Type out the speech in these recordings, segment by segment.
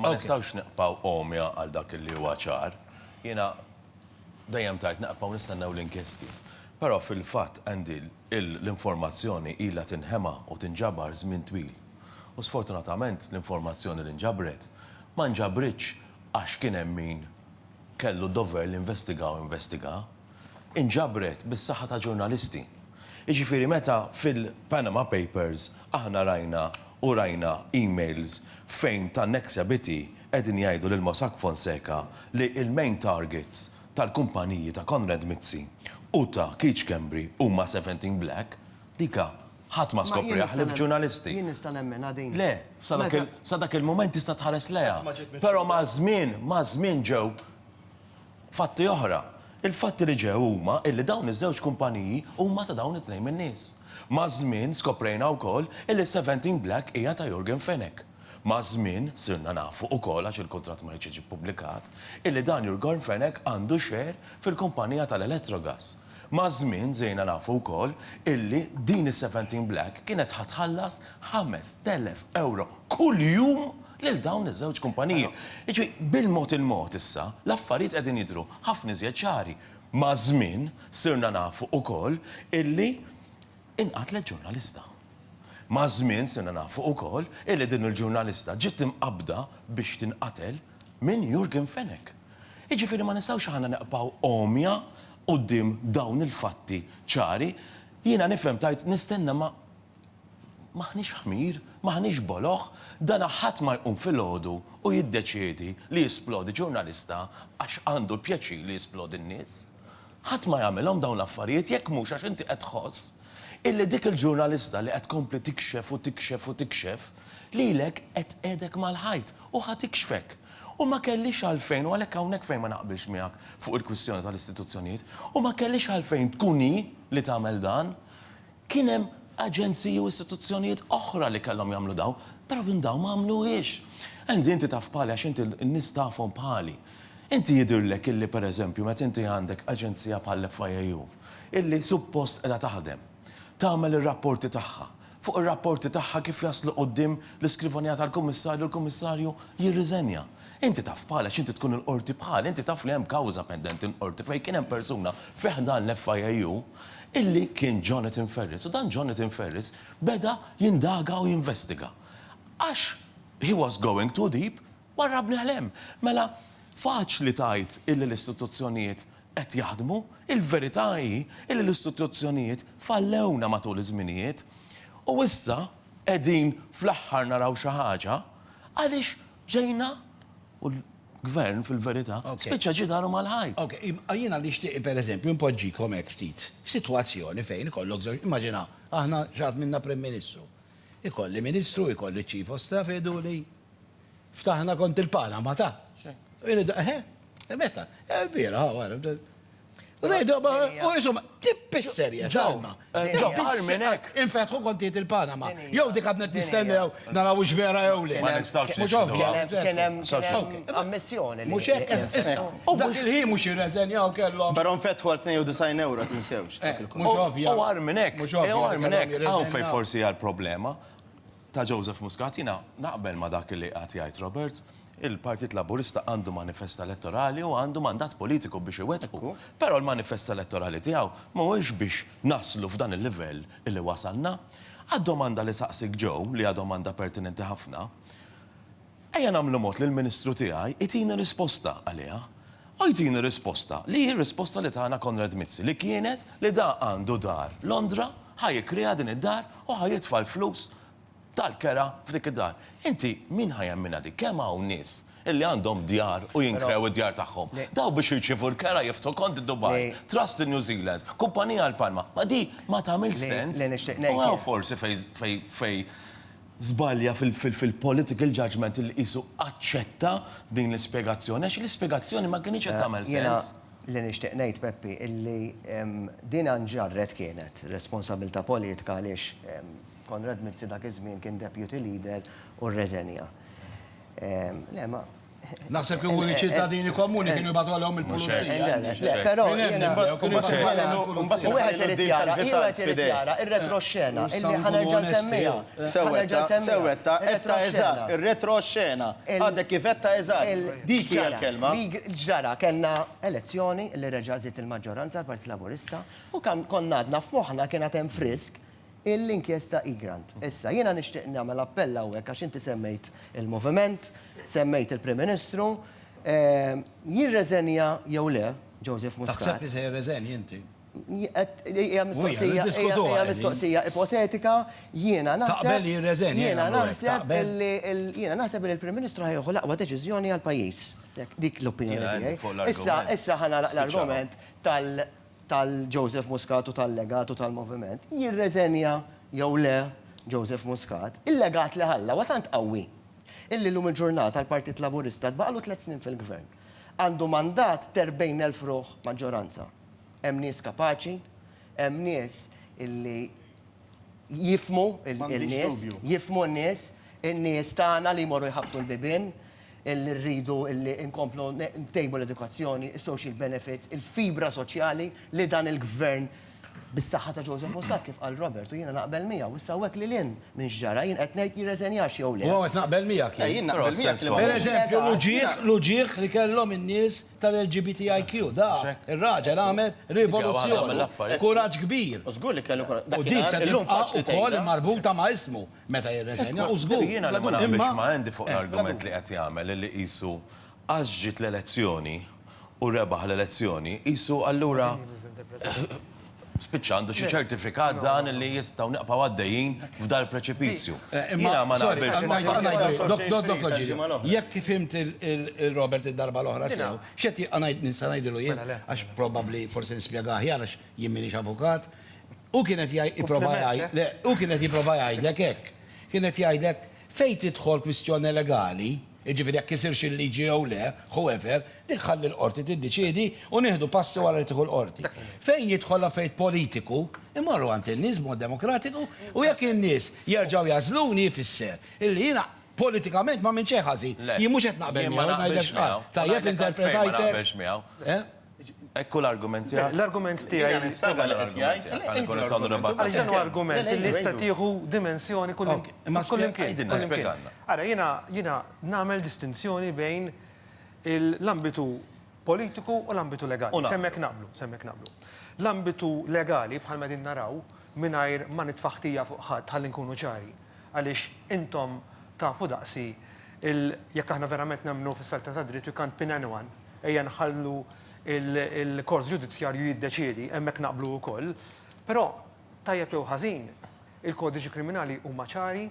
Ma nistgħux nibqgħu għomja għal dak li huwa ċar. Jiena dejjem tgħid naqbgħu nistennew l-inkjesti. Però fil-fatt, Andy, l-informazzjoni ilha tinħema u tinġabar żmien twil. U sfortunatament l-informazzjoni li nġabret ma nġabritx għax kien hemm min kellu d-dover li investiga u investiga. inġabret bis-saħħa ta' ġurnalisti. Jiġifieri meta fil-Panama Papers aħna rajna u rajna emails fejn tan-ex Abiti qegħdin jgħidu lil Mossack Fonseca li l-main targets tal-kumpaniji ta' Konrad Mizzi u ta' Keith Schembri huma Seventeen Black, dika ħadd ma skopriha ħlief ġurnalisti. Jien nista' nemminha din. Le, sa dak il-mument tista' tħares lejha. Però maż-żmien, maż-żmien ġew Fatti oħra, Il-fatti li ġew huma illi dawn iż-żewġ kumpaniji huma ta' dawn it-tnejn min-nies. Maż-żmien skoprejna wkoll illi Seventeen Black hija ta' Yorgen Fenech. Maż-żmien sirna nafu ukoll għax il-kuntratt ma riedx jiġi ppubblikat, illi dan Jurgorn Fenech għandu share fil-kumpanija tal-Elettrogas. Maż-żmien żejna nafu wkoll illi din is-Seventeen Black kienet ħa tħallas ħames telef ewro kuljum lil dawn iż-żewġ kumpaniji. Jiġifieri bil-mod il-mod issa l-affarijiet qegħdin jidhru ħafna iżjed ċari. Maż-żmien sirna nafu wkoll illi Inqatlet ġurnalista. Maż-żmien sirna nafu ukoll illi din il-ġurnalista ġiet imqabbda biex tinqatel minn Yorgen Fenech. Jiġifieri ma nistgħux aħna neqbgħu għomja quddiem dawn il-fatti ċari. Jiena nifhem tgħid nistenna ma m'aħniex ħmir, m'aħniex boloh, dana ħadd ma jqum filgħodu u jiddeċiedi li jisplodi ġurnalista għax għandu l-pjaċir li jisplodi n-nies. Ħadd ma jagħmilhom dawn l-affarijiet jekk mhux għax inti qed tħoss illi dik il-ġurnalista li qed tkompli tikxef u tikxef u tikxef lilek qed tqegħedek mal-ħajt u ħa tikxfek. U ma kellhiex għalfejn u għalhekk hawnhekk fejn ma naqbilx miegħek fuq il-kwistjoni tal-istituzzjonijiet, u ma kellhiex għalfejn tkun hi li tagħmel dan. Kien hemm aġenziji u istituzzjonijiet oħra li kellhom jagħmlu dawn, però minn dawn ma għamluhiex. Andy inti taf bħali għax inti n-nies tafhom bħali. Inti jidhirlek illi per eżempju meta inti għandek aġenzija bħall-FIAU illi suppost qiegħda taħdem, tagħmel ir-rapporti tagħha, fuq ir-rapporti tagħha kif jaslu quddiem l-iskrivanija tal-Kummissarju l-Kummissarju jirriżenja? Inti taf bħala x'inti tkun il-Qorti bħal, inti taf li hemm kawża pendenti l-Qorti fejn kien hemm persuna fi ħdan l-FIAU illi kien Jonathan Ferris u dan Jonathan Ferris beda jindaga u jinvestiga. Għax he was going too deep, warrabni għal hemm. Mela faċli tgħid illi l-istituzzjonijiet qed jaħdmu, il-verità hi illi l-istituzzjonijiet fallewna matul iż-żminijiet u issa qegħdin fl-aħħar naraw xi ħaġa għaliex Ġejna u l-gvern fil-verità spiċċa ġie daru mal-ħajt. Ok, jiena nixtieq pereżempju npoġġikom hekk ftit f'sitwazzjoni fejn ikollok żewġ, immaġina aħna xi ħadd minna Prim Ministru. Ikolli Ministru, ikolli Chief of Staff jgħidu li ftaħna kont il-Panama ta'. Xejn. Eħe, meta? Vera, Rejdu, u jisum, tippisserja, ġalma. Ġalma, minn hekk. Infetħu kontijiet il-Panama. Jew dik għadnet nistennew naraw ux vera jew le. Ma nistawx Kienem ammissjoni. Mux hekk, issa. U dak il-ħin mux jirreżenjaw kellu. Pero nfetħu għal 92 euro tinsewx. Mux ovvja. U għar minn hekk. Mux ovvja. Għar minn hekk. Għaw fej forsi għal problema. Ta' Joseph Muscat, jiena naqbel ma' dak li qagħad jgħid Robert, il-Partit Laburista għandu manifest elettorali u għandu mandat politiku biex iwettqu. Però l-manifest elettorali tiegħu mhuwiex biex naslu f'dan il-livell illi wasalna. Għad-domanda li saqsiek Joe, li hija domanda pertinenti ħafna, Ejja nagħmlu mod li l-Ministru tiegħi jtini risposta għaliha. U jtini risposta li hi r-risposta li tana Konrad Mizzi li kienet li da għandu dar Londra, ħa jikkrea din id-dar u ħa jitfa' l-flus tal-kera f'dik id-dar. Inti min ħa jemminha dik? Kemm hawn nies illi għandhom djar u jinkrew id-djar tagħhom? Daw biex jirċievu l-kera jiftħu kont id-Dubai, trust in New Zealand, kumpanija għal Palma. Ma di ma tagħmilx sens. U hawn forsi fejn żbalja fil-political judgement li qisu aċċetta din l-ispjegazzjoni għax l-ispjegazzjoni ma kinitx qed tagħmel sens. Jiena li nixtieq ngħid, Peppi, illi din nġarret kienet responsabilità politka għaliex Konrad Mizzi dak iż-żmien kien Deputy Leader u rreżenja. Le, ma. Naħseb li huma ċittadini komuni kienu jibgħatu għalihom il-pulizija. Però wieħed irid jara, wieħed irid jara ir-retroxxena illi ħanerġa' nsemmija. Sewwetta, sewwetta, etta eżatt, ir-retroxxena. Għadek kif etta eżatt. Dik hija l-kelma. Ġara, kellna elezzjoni li reġa' żied il-maġġoranza l-Partit Laburista u konna għadna f'moħħna kien għad hemm frisk l-inkjesta Egrant. Issa, jiena nixtieq nagħmel appell hawnhekk għax inti semmejt il-moviment, semmejt il-Prim Ministru, jirreżenja jew le Joseph Muscat. Taħseb li se jirreżenja inti? Hija mistoqsija, hija mistoqsija ipotetika, jiena naħseb. Taqbel li jirreżenja? Jiena naħseb li, jiena naħseb li l-Prim Ministru ħa jieħu l-aqwa deċiżjoni għall-pajjiż. Dik l-opinjoni tiegħi. Issa, issa ħa nagħlaq l-argument tal-. tal-Joseph Muscat u tal-legat u tal-moviment, jirreżenja jew le Joseph Muscat, il-legat li ħalla huwa tant qawwi illi llum il-ġurnata l-Partit Laburista tbaqgħlu tliet snin fil-Gvern. Għandu mandat t'erbgħin elf ruħ maġġoranza. Hemm nies kapaċi, hemm nies illi, jifhmu n-nies, jifhmu n-nies, in-nies tagħna li jmorru jħabbtu l-bibien, li rridu li nkomplu ntejbu l-edukazzjoni, is-social benefits, il-fibra soċjali li dan il-Gvern bis-saħħa ta' Joseph Muscat kif qal Robert u jiena naqbel miegħu. Issa hawnhekk lil hinn minn x'ġara jien qed ngħid jirreżenjax jew le. U hawn qed naqbel miegħek jien. Pereżempju l-uġigħ, l-uġigħ li kellhom in-nies tal-LGBTIQ, dak ir-raġel għamel rivoluzzjoni, kuraġġ kbir. U żgur li kellu kuraġġ. Dak kien għar, illum faċli tgħidha. U dik se tibqa' wkoll marbuta ma' ismu meta jirreżenja, u żgur. Jiena li ma naqbilx ma' Andy fuq l-argument li qed jagħmel li qisu għax ġiet l-elezzjoni u rebaħ l-elezzjoni, qisu allura spiċċa għandu xi ċertifikat dan li jistgħu nibqgħu għaddejjin f'dal-preċipizju. Eh, Jiena ma naqbilx ma' Jekk fimt il-Robert id-darba l-oħra sew, x'qed jgħid nista' ngħidilu jien mela, għax probabbli forsi nispjega aħjar għax jien m'iniex avukat. U kienet jipprova jgħid, eh? u kienet jipprova jgħidlek hekk. Kienet jgħidlek fejn tidħol kwistjoni legali, Jiġifieri jekk kisirx il-liġi jew le, whoever, dik ħalli l-Qorti tiddeċiedi u nieħdu passi wara li tieħu l-Qorti. Fejn jidħol l-affarijiet politiku, immorru għand in-nies b'mod demokratiku u jekk in-nies jerġgħu jagħżluni jfisser illi jiena politikament m'għamilt xejn ħażin. Jien mhux qed naqbel miegħu, ngħidlek x'qal. Tajjeb interpretajtek? Hekk hu l-argument tiegħek? L-argument tiegħi. Jiena nispjega li qed jgħid. Għaliex dan hu argument li issa tieħu dimensjoni kullimkien. Ara, jiena nagħmel distinzjoni bejn l-ambitu politiku u l-ambitu legali. Se hemmhekk naqblu, se hemmhekk naqblu. L-ambitu legali bħalma qegħdin naraw, mingħajr ma nitfa' ħtija fuq ħadd ħalli nkunu ċari, għaliex intom tafu daqsi il jekk aħna verament nemmnu fis-selta tad-dritt we can't pin anyone, ejja nħallu il-kors ġudizzjarju jiddeċiedi, hemmhekk naqblu wkoll, però tajjeb jew ħażin il-kodiċi kriminali huma ċari,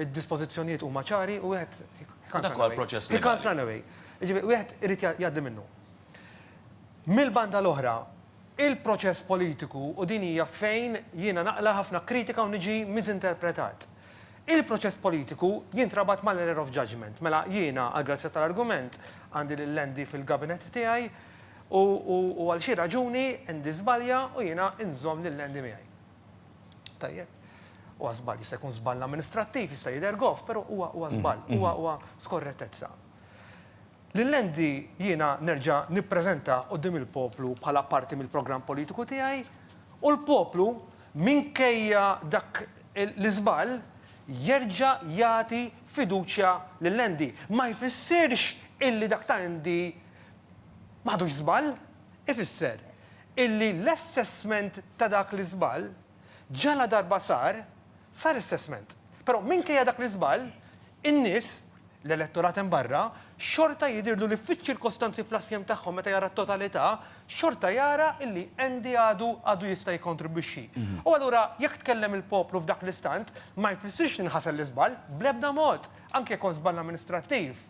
id-dispożizzjonijiet huma ċari u wieħed he can't run away. Dak huwa l-proċess legali. He can't run away. Jiġifieri wieħed irid jgħaddi minnu. Mill-banda l-oħra, Il-proċess politiku, u din hija fejn jiena naqla' ħafna kritika u niġi misinterpretat. Il-proċess politiku jintrabat mal-error of judgement. Mela, jiena, għall-grazzja tal-argument, għandi lil Andy fil-gabinett tiegħi u u għal xi raġuni Andy żbalja u jiena nżomm lil Andy miegħi. Tajjeb. Huwa żball, jista' jkun żball amministrattiv, jista' jidher goff, però huwa huwa żball, huwa huwa skorrettezza. Lil Andy jiena nerġa' nippreżentah quddiem il-poplu bħala parti mill-programm politiku tiegħi u l-poplu, minkejja dak l-iżball, jerġa' jagħti fiduċja lil Andy. Ma jfissirx illi dak ta' Andy ma ħadux żball. Ifisser illi l-assessment ta' dak l-iżball, ġaladarba sar, sar assessment. Però minkejja dak l-iżball, in-nies, l-elettorat hemm barra, xorta jidhirlu li fiċ-ċirkostanzi fl-assjem tagħhom meta jara t-totalità, xorta jara illi Andy għadu għadu jista' jikkontribwixxi. U allura jekk tkellem il-poplu f'dak l-istant, ma jfissirx li nħasel l-iżball, bl-ebda mod, anki jekk huwa żball amministrattiv.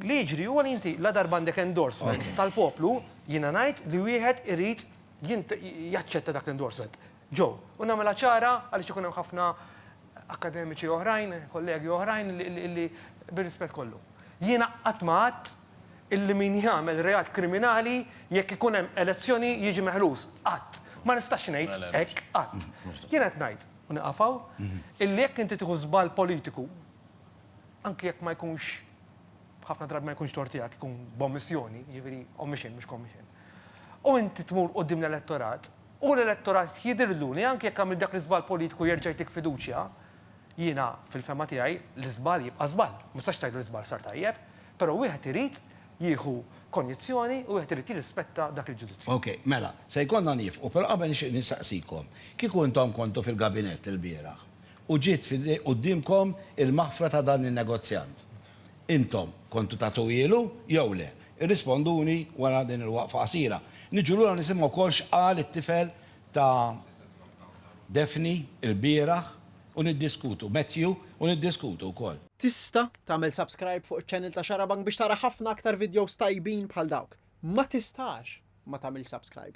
Li jiġri huwa li inti ladarba għandek endorsement tal-poplu, jiena ngħid li wieħed irid jaċċetta dak l-endorsement. Joe. U nagħmilha ċara, għaliex ikun hemm ħafna akkademiċi oħrajn, kollegi oħrajn li, bir-rispett kollu. Jiena qatt ma għadt illi min jagħmel reat kriminali jekk ikun hemm elezzjoni jiġi meħlus. Qatt. Ma nistax ngħid hekk qatt. Jiena qed ngħid, u nieqaf hawn, illi jekk inti tieħu żball politiku, anki jekk ma jkunx, ħafna drabi ma jkunx tort tiegħek, ikun b'ommissjoni, jiġifieri omission mhux commission, u inti tmur quddiem l-elettorat, U l-elettorat jidhirlu li anki jekk għamilt dak l-iżball politiku jerġa' jtik fiduċja. Jiena, fil-fehma tiegħi, l-iżball jibqa' żball. Ma tistax tgħid li l-iżball sar tajjeb. Però wieħed irid jieħu konjizzjoni u wieħed irid jirrispetta dak il-ġudizzju. Ok, mela, se jkollna nieqfu, però qabel nixtieq nistaqsikom, kieku intom kontu fil-gabinett ilbieraħ u ġiet quddiemkom il-maħfra ta' dan in-negozjant, Intom kontu tagħtuhielu jew le? Irrisponduni wara din il-waqfa qasira. Niġu lura nisimgħu wkoll x'qal it-tifel ta' Daphne ilbieraħ u niddiskutu, Matthew, u niddiskutu wkoll. Tista' tagħmel subscribe fuq iċ-channel ta' Xarabank biex tara ħafna aktar videos tajbin bħal dawk. Ma tistax ma tagħmilx subscribe.